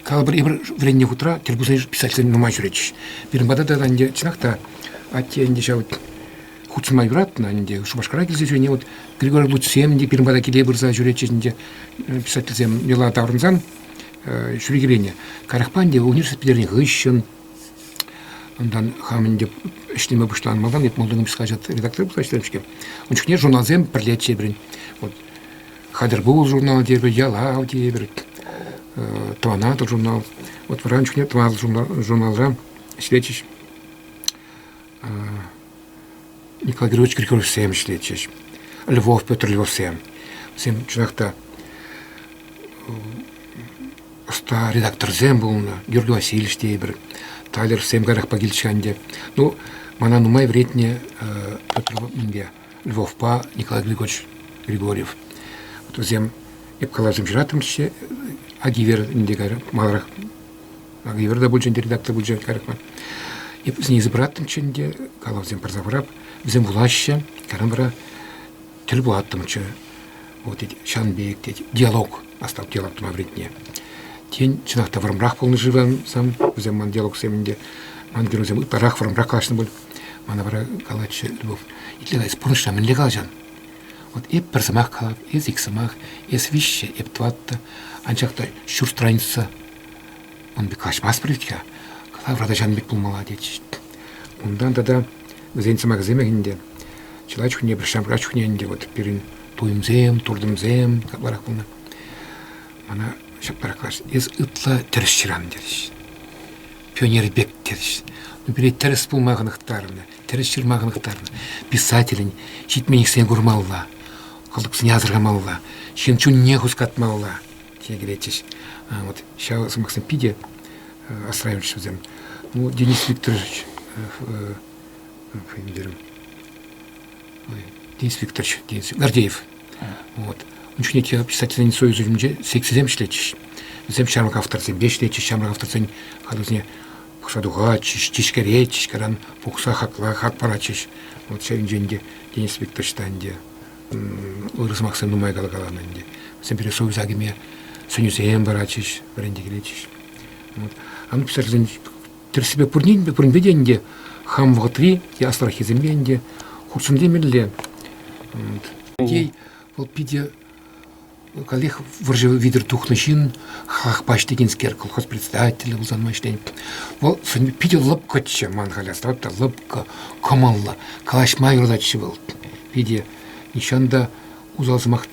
Калӑпӑр, эпир вӗреннӗ хутра тӗл пулса писательсем нумай ҫӳретчӗҫ. Пирӗн пата та ӗнтӗ чӑнах та атте ӗнтӗ ҫав хутшӑнма юратнӑ ӗнтӗ. Шупашкара килсе ҫӳрене вот Григорий Лучсем те пирӗн пата киле пырса ҫӳретчӗҫ ӗнтӗ писательсем йӑла таврӑнсан ҫӳрекелене. Каярахпа ӗнтӗ университет пӗтернӗ хыҫҫӑн унтан хам ӗнтӗ ӗҫлеме пуҫланӑ малтан эп молдовский хаҫат редактор пулса ӗҫлерӗм-ҫке. Ун чухне журналсем пӗрлеччӗ пирӗн. Вот Хатӗр пул журнал тетпӗр, Ялав тетпӗр, Тӑванатӑр журнал. Вот вӑран чухне тӑван журналра ӗҫлетчӗҫ. Николай Григорьевич Григорьевсем ӗҫлетчӗҫ. Львов Петр Львовсем. Вӗсем чӑнах та ӑста редакторсем пулнӑ. Георгий Васильевич тейпӗр. Талерсем каярахпа килчӗ ӗнтӗ. Ну, мана нумай вӗретнӗ Петр минпе. Львовпа Николай Григорьевич Григорьев. Вот вӗсем эп калаҫӑм ҫыраттӑмччӗ. Агивер ӗнтӗ кайран маларах Агивер та пулчӗ, ӗнтӗ редактор пулчӗ кайрах ман. Эп вӗсене йышӑпраттӑмччӗ ӗнтӗ, калавсем парса хурап. Вӗсем вулаҫҫӗ, кайран вара тӗл пулаттӑмччӗ. Вот, тет, ҫан пек, тет, диалог, астав диалог тума вӗретне. Тен, чӑнах та вӑрӑмрах пулнӑ-ши вӗсем, вӗсем ман диалогсем ӗнтӗ. Ман геройсем ытларах вӑрӑмрах калаҫнӑ пуль. Мана вара калатчӗ, Любовь, итле-ха, эс пурнӑҫра мӗнле калаҫан? Вӑт эп пӗр сӑмах калап, эс ик сӑмах, эс виҫҫӗ, эп тӑваттӑ, анчах та ҫурт тӑранӗччӗ. Ман пек калаҫмастпӑр вӗт-ха, кала вратӑҫан пек пулмалла, тетчӗҫ. Унтан тата вӗсен сӑмахӗсемех ӗнтӗ. Чылай чухне пӗр ҫамрак чухне ӗнтӗ вот пирӗн туйӑмсем, туртӑмсем капларах пулнӑ. Мана ҫапла калаҫ, эс ытла тӗрӗс ҫыран, терӗҫ. пионер пек тӗрӗс. Ну, пире тӗрӗс пулма хӑнӑхтарнӑ, тӗрӗс ҫырма хӑнӑхтарнӑ. Писателӗн ҫитменлӗхсене курмалла, кӑлтӑксене асӑрхамалла, ҫын чунне хускатмалла, тесе кӗретчӗҫ. Вот ҫав сӑмахсем питӗ расстраивающие вӗсем. Ну, Денис Викторович, фамилия инспектор Гордеев. Вот. Ун чухне писательсен союз уйрӑмӗнче секцисем ӗҫлетчӗҫ. Вӗсем ҫамрӑк авторсемпе ӗҫлетчӗҫ. Ҫамрӑк авторсен хатусне пӑхса тухатчӗҫ, тишкеретчӗҫ, кайран пухса хакла хак паратчӗҫ. Вот ҫавӑнчен ӗнтӗ Денис Викторович та ӗнтӗ ырӑ сӑмахсем нумай калакаланӑ ӗнтӗ. Вӗсем пире союза кӗме сӗнӳсем паратчӗҫ, вӗренте килетчӗҫ. Вот. А ну писательсен Тӗрӗссипе пурин, пуринпе те ӗнтӗ хам вӑхӑтри те аслӑраххисемпе ӗнтӗ хутшӑнтемелле. Тей вӑл питӗ каллех вӑрҫӑ витӗр тухнӑ ҫын, хакпаҫ текенскер, колхоз председателӗ пулса ӗҫленӗ. Вӑл питӗ лӑпкӑччӗ ман халь асра та лӑпкӑ, кӑмӑллӑ, калаҫма юрататчӗ вӑл. Питӗ нихҫан та усал сӑмах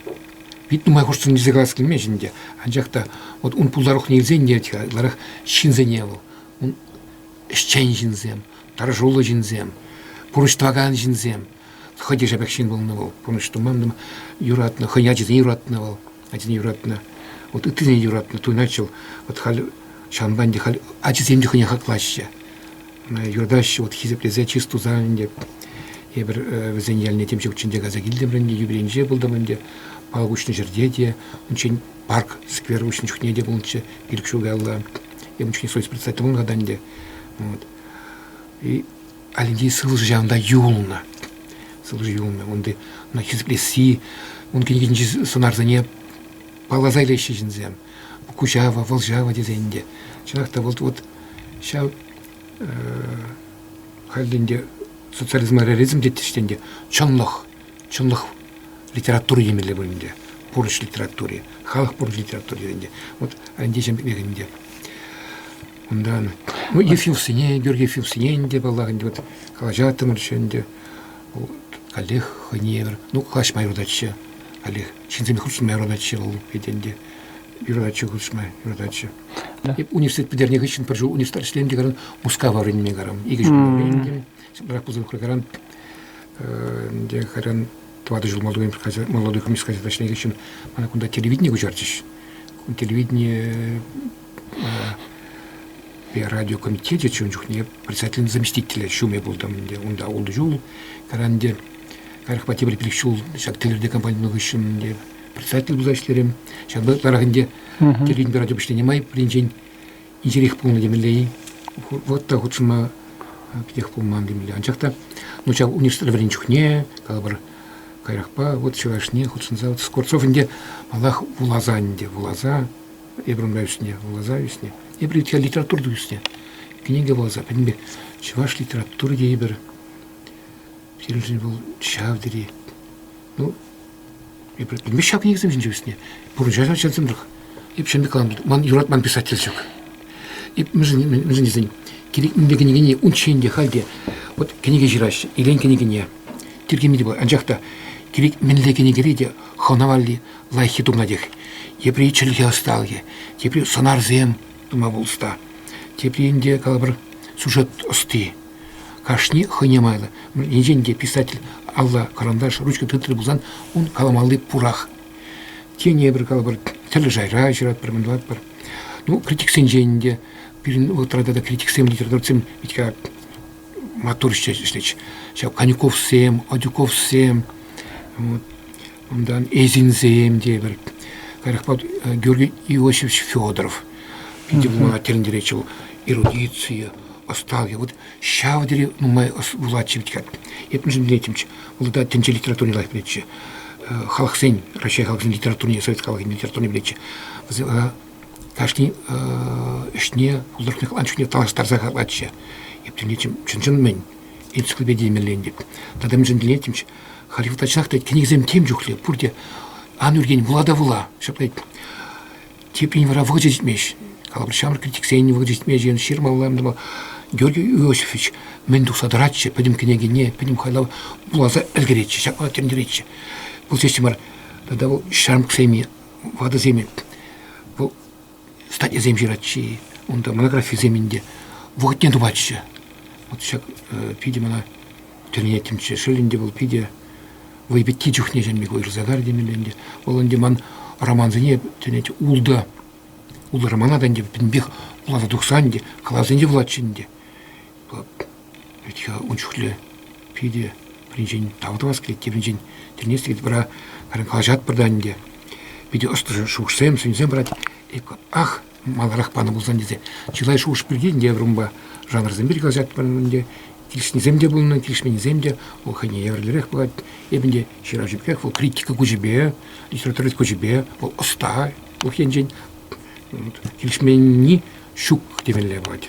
Пит нумай хушсӑн илсе калас килмест ӗнтӗ, анчах та вот ун пултарулӑхне илсе ӗнтерет-ха ытларах ҫынсене вӑл. Ун ӗҫчен ҫынсем, тӑрӑшуллӑ ҫынсем, пурнӑҫ тӑвакан ҫынсем. Хӑй те шапах ҫын пулнӑ вӑл, пурнӑҫ туман-туман юратнӑ, хӑйне ачисене юратнӑ вӑл, ачисене юратнӑ. Вот ыттисене юратнӑ, туйӑнать вӑл. Вот халь ҫавӑнпа ӗнтӗ халь ачисем те хӑйне хаклаҫҫӗ. юртаҫҫӗ, вот хисеплесе чыс тусан ӗнтӗ эпир вӗсен ялне тем ҫукчӗн те кайса килтӗмӗр ӗнтӗ, юбилейнче пултӑм ӗнтӗ, палӑк уҫнӑ ҫӗрте те, унччен парк сквер уҫнӑ чухне те пулнӑччӗ, пилӗк ҫул каялла, эм унччен совет председатель пулнӑ ӗнтӗ. И Алентей сывлӑшӗ ҫавӑнта юлнӑ. Сывлӑшӗ юлнӑ. Унти хисеплесси, ун кӗнекинчи сӑнарсене палласа илеҫҫӗ ҫынсем. куҫава, вӑлҫава тесен те. Чӑнах та вот, вот ҫав хальлӗн те социализма реализм теттӗҫ те ӗнтӗ, чӑнлӑх, чӑнлӑх литератури темелле пулин те, пурнӑҫ литератури, халӑх пурнӑҫ литератури тесен те. Вот Андиҫем пекех ӗнтӗ. Унтан, ну, Ефимсене, Георгий Ефимсене ӗнтӗ, паллах, ӗнтӗ, вот калаҫаттӑмӑр ӗнтӗ, Вӑл каллех хӑйне евӗр, ну, калаҫма юрататчӗ. Каллех ҫынсемпе хутшӑнма юрататчӗ вӑл хӑйтен те. Юрататчӗ хутшӑнма, юрататчӗ. Университет пӗтернӗ хыҫҫӑн пӗр ҫул университет ӗҫлем те каран Мускава вӗренме карам. Икӗ ҫул вӗрентӗм. Брак пулса тухрӗ каран. Ӗнтӗ кайран тӑватӑ ҫул молодой, молодой коммунист газета ӗҫленӗ хыҫҫӑн мана кунта телевидение куҫарчӗҫ. Телевидение радиокомитечӗ чун чухне председателӗн заместителӗ ҫумӗ пултӑм ӗнтӗ унта ултӑ ҫул. Кайран ӗнтӗ каярахпа тепӗр пилӗк ҫул ҫак тӗллевлӗ компани тунӑ хыҫҫӑн ӗнтӗ председатель пулса ӗҫлерӗм. Ҫавӑнпа ытларах ӗнтӗ телевидени радио пуҫланӑ май пӗринчен инҫерех пулнӑ темелле-и, вӑт та хутшӑнма питех пулман темелле. Анчах та ну ҫав университет вӗрен чухне, калӑпӑр, каярахпа вот чӑвашне хутшӑнса вот Скворцов ӗнтӗ малах вуласа ӗнтӗ, вуласа Ибрямла ӳснӗ, вуласа ӳснӗ. Ибритка литературӑ ӳснӗ. Кӗнеке вуласа пӗтӗмпе чӑваш литератури тейӗпӗр. Пирӗншӗн вӑл ҫав тери ну эпир пӗтӗмпех ҫав кӗнекесем ҫинче ӳснӗ. Пурнӑҫа ачасемсӗрех. Эп ҫемпе калам, ман юратман писатель ҫук. Эп мӗншӗн, мӗншӗн тесен кирек мӗнле кӗнекене унччен те, халь те вот кӗнеке ҫыраҫҫӗ, илен кӗнекене, тиркеме те пулать. Анчах та кирек мӗнле кӗнекере те хӑвна валли, лайӑххи тумлатех. Тепри чӗлхе ӑсталӑхӗ, тепри сӑнарсем тума пулӑшта, тепри ӗнтӗ калӑпӑр сюжет ӑсти. Кашни хӑйне майлӑ. Енчен те писатель алла кӑранташ, ручка тытрӑ пулсан, ун каламалли пурах. Тенӗ пӗр калӑпӑр тӗрлӗ шайра ҫыратпӑр, мӑндалатпӑр. Ну, критиксенчен те, пирӗн вӑхӑтра тата критиксем, литературӑсем бит маттурччӗ ӗҫлет. Ҫав Конюковсем, Адюковсем, Унтан эсинсем тепӗр. Кайрахпа Георгий Иосифович Федоров. Питӗ вулама тӗлӗнтеретчӗ вӑл. Эрудицие, ӑсталӑхӗ. Вот ҫав тери нумай вулатчӗ иккен. Эп мӗншӗн вӗренеттӗмччӗ? Вӑл та тӗнче литературине лайӑх пӗлетчӗ. Халӑхсен, Раҫҫей халӑхӗн литературине, совет халӑхӗн литературине пӗлетчӗ. Вӗсем кашни ӗҫне, художник ан чухне танлаштарса хаклатчӗ. Эп тӗлӗнетчӗ, чӑн-чӑн мӗн? энциклопедия мелле ӗнтӗ. Тата мӗншӗн вӗренеттӗмччӗ? Халь юлташах та кӗнекесем тем чухлӗ, пурте ан ӳркен вула та вула. Ҫапла теприн вара вӑхӑчӗ ҫитмест. Калӑпӑр, ҫамрӑк критиксен вӑхӑчӗ ҫитмест, ҫырмалла Георгий Иосифович мӗн тухса тӑратчӗ пӗтӗм кӗнекене, пӗтӗм хайлав вуласа ӗлкӗретчӗ, ҫапла тӗнтеретчӗ. Пулсессӗн вара тата вӑл ҫамрӑксем, ватӑсем, вӑл статьясем ҫыратчӗ унта монографисем ӗнтӗ вӑхӑтне тупатчӗ вот ҫак питӗ мана тӗлӗнеттӗмччӗ шел ӗнтӗ вӑл питӗ вӑй пӗтти чухне чӗнме ырса кар темелле ӗнтӗ вӑл ӗнтӗ ман романсене тӗлӗнет ултӑ ултӑ романа та ӗнтӗ пӗтӗмпех вуласа тухса ӗнтӗ калавсенче вулатчӗ ӗнтӗ Ӗҫ-хӗл ун чухлӗ питӗ пӗринчен тав тӑвас килет, тепринчен тӗлӗнес килет. Вара калаҫатпӑр та ӗнтӗ, питӗ ӑслӑ шухӑшсем, сӗнӳсем парать. Ах, маларах панӑ пулсан тесе чылай шухӑш пирки ӗнтӗ вырӑнпа жанрсем пирки калаҫатпӑр ӗнтӗ. Килӗшнисем те пулнӑ, килӗшменнисем те. Вӑл хӑйне евӗрлӗрех пулать. Эпӗ ӗнтӗ ҫырав ҫӳпкех, вӑл критика куҫӗпе, литературовед куҫӗпе, вӑл ӑста ку енчен. Килӗшменни ҫук темелле пулать.